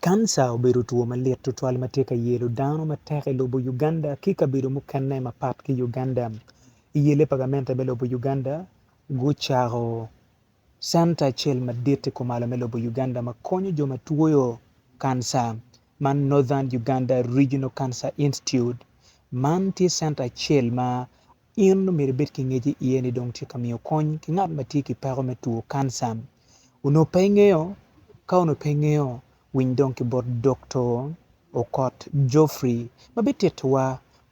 Kanca obedo two malit tutwal ma tye ka yelo dano matek i lobo Uganda ki kabedo mukene mapat ki Uganda. I yelle pa gamente me lobo Uganda, gucako centa acel madit i kumalo me lobo Uganda ma konyo jo ma twoyo kanca ma Northern Uganda Regional Cancer Institute. Man tye centa acel ma In omyero ibed ki ngec i iye ni dong tye ka miyo kony ki ngat ma tye ki peko me two kanca. Onongo pe ingeyo? Ka onongo pe ingeyo, winy dong ki bot Dokto Okot Geoffrey ma bitittiwa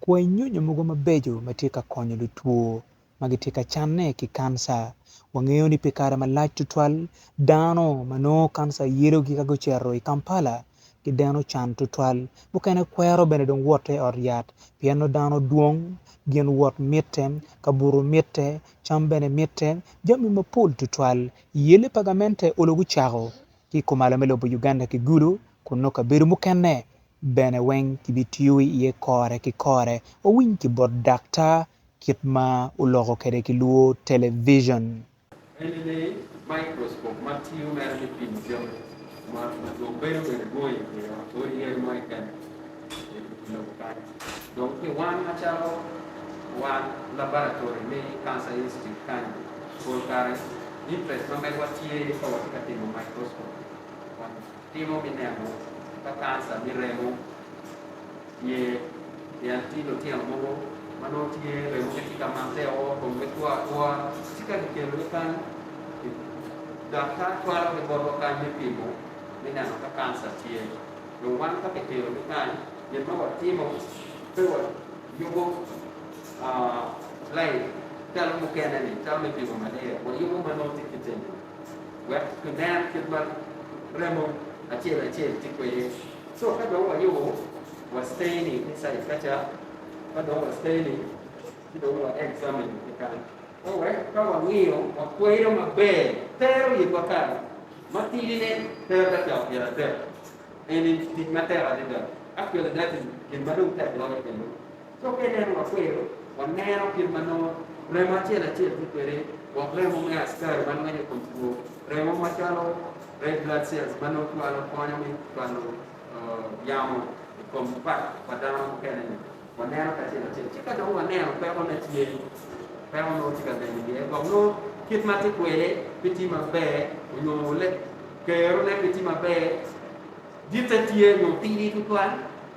kwai nyonyo mogo mabeco ma tye ka konyo lutwo ma gitye ka canne ki kanca. Wangeyo ni pi kare malac tutwal, dano ma nongo kanca yelogi ka gucito i Kampala gideno can tutwal. Mukene kwero bene dong woto i ot yat, pien nongo dano dwong, gin wot mitte, kabuto mitte, cam bene mitte, jami mapol tutwal. I yelle pa gamente, olo gucako ki i kumalo me lobo Uganda ki Gulu, kun nongo kabedo mukene bene weng kibitiyo iye kore ki kore. Wawiny ki bot daktar kit ma oloko kwede ki lwor television. En ni, microscope ma tiyo mere me pimo jami ma dong bedo bene dwong i wi odi yadi mo keken i lobo kany. Dong pi wan macalo wan labaratory me Cancer Institute kany, pol kare interest ma medowa tye ka wati ka timo microscope kwan. Timo me neno ka kanca me remo tye pien tye lutino mogo ma nongo tye remogi tye ka matte o komgi two atwoa ci ka kikelogi kany daktar twalogi botwa kany me pimo me neno ka kanca tye dong wan ka kikelogi kany gin ma watimo pe wayubo lain calo mukene-ni calo me pimo malaria wayubo ma nongo tye kitimo. wek kiner kit ma remo acel acel tye kwede. Co ka dong wayubo wa steni inside ka ca, ka dong wa steni ci dong wa examine kikan ka wek ka wangiyo wakweyo maber tero yibwa kare. Matidi ne tero dakika pyer adek, eni tic matek adada. Actually that is gin ma dong tek loyo kendo. Ka waneno makwero, waneno kit ma nongo remo acel acel tye kwede, wek remo me askari ma lwenyo kom two, remo macalo red blood cells ma nongo twalo konyo me twalo yamo i kom pat pa dano mukene-ni, waneno ki acel acel. Ci ka dong waneno peko ne tye, peko nongo tye ka nen iye, gwok nongo kit ma tye kwede pe tye maber, onyo kerone pe tye maber, ditte tye onyo tidi tutwal.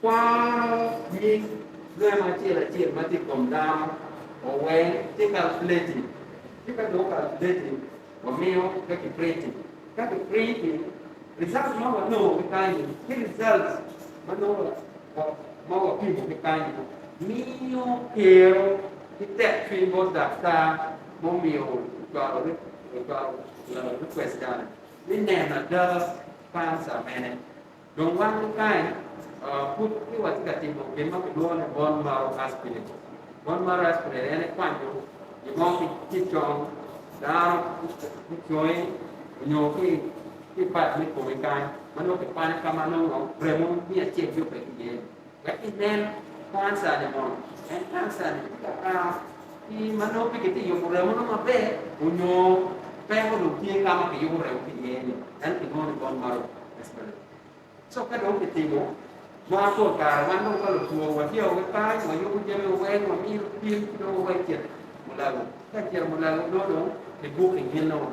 Kwaro nying lweno acel acel ma tye i kom dano oweng ki kalkuleti, ci ka dong okalkuleti wamiyo ka kiprinti. Ka kiprinti rizalt ma wanongo ki kany-ni ki rizalt ma nongo ma wapimo ki kany-ni miyo kero ki tek cwiny bot daktar ma omiyo ocwalo rikwest-tani ni neno ada kanca mene. Dong wan kany pud pe watye ka timo gin ma kilwongo ni bone marrow aspirate. Bone marrow aspirate en ekwanyo gin mo ki i cong dano, ki i congi nyo ki i pat me komi kany ma nongo kikwanyo ka ma nongo remo miya acel pe tye iye-ni. Wek ginen kansane mono en kansane tye ka par pi ma nongo pe kitye ka yubo remono maber onyo peko dong tye ka ma kiyubo remo ki iye-ni ento kinongo ni bone marom Australia. Co ka dong kitimo ma pol kare wan dong ka lutwo wadyao ki kany, wayubo jami waweng, wamiyo pim ki dong waweko cit mulago. Ka cito mulago nongo dong kibuki ginno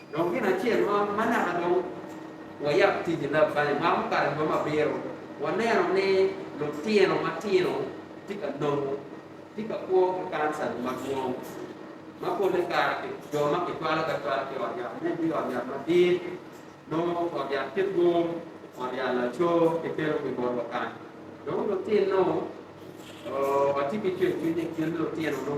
Dong gin acel ma ma naka dong wayab tic-ci leb banya ma mukato i boma abiro, waneno ni lutino matino tye ka nongo tye ka kwo ki kansa-ni madwong, ma polle kare jo ma kicwalo gi acwala ki i ot yat me bino i ot yat madit, nongo ot yat kit Wong, ot yat laco gitero pi botwa kany. Dong lutin-nu, oo, watye ki cwercwiny ni gin lutinonu.